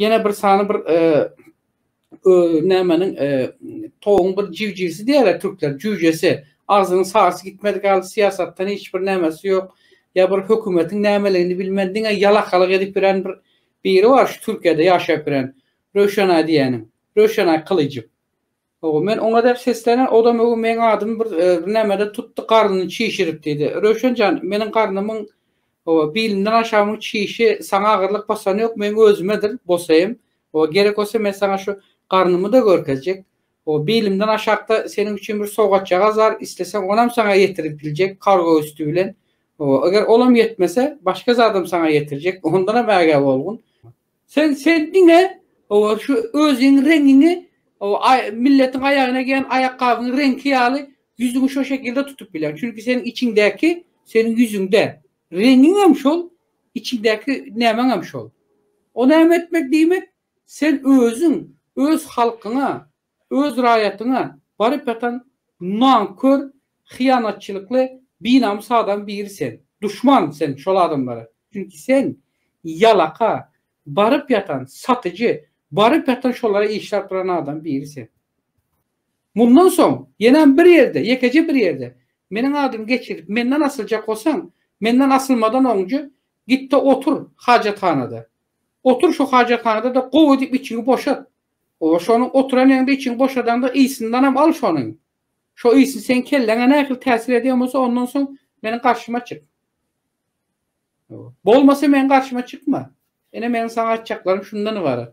Ýene bir sany bir nämeniň toguň bir jüjisi diýýärler türkler, jüjesi. Agzynyň sarsy gitmedik ýaly syýasatdan hiç bir nämesi ýok. Ýa bir hökümetiň nämeligini bilmän diňe ýalakalyk edip ýören bir biri bar şu Türkiýede ýaşap ýören Röwşenaý diýýäniň. Röwşenaý Kylyjow. Hawa, men oňa däp seslenen, o-da möhüm meň adymy bir birnäme-de tutdy, garnyny çişirip diýdi. Röwşen jan, meniň garnymyň, hawa, bilimden aşagymyň çişi saňa agyrlyk basany ýok, meň özümedir, bolsa hem, hawa, gerek bolsa men saňa şu garnymy-da görkezjek. Hawa, bilimden aşakda seniň üçin bir sowgatjagaz bar, isleseň onam saňa ýetirip biljek, kargo üsti bilen. Hawa, eger olam ýetmese, başga zadam saňa ýetirjek, ondanam ägä bolgun. Sen sen diňe obar şu özüň reňiňi o milletiň aýagyna geýen aýakgabyň reňki ýaly ýüzüňi şo şekilde tutup bilen çünki seniň içiňdäki seniň ýüzüňde reňiňem şol içiňdäki nämeňem şol o näme etmek diýmek sen özüň öz halkyňa Öz raýatyňa baryp ýatan nankör, hyýanatçylykly, binamys adam biri sen. Duşman sen şol adamlara. Çünki sen ýalaka, baryp ýatan satyjy, baryp ýatan şolara işläp duran adam biri sen. Mundan soň ýenäm bir ýerde, ýekeje bir ýerde meniň adymy geçirip menden asyljak bolsaň, menden asylmadan oňje gitde otur hajathanada. Otur şo hajathanada-da gowy edip içiňi boşat. Oba şonuň oturan ýeriňde içiňi boşadaňda ysyndanam al şonuň. Şo ysy seň kelläňe nähili täsir edýän bolsa ondan soň meniň garşyma çyk. Bolmasa meniň garşyma çykma. Ine meniň saňa aýtjaklarym şundan ybarat.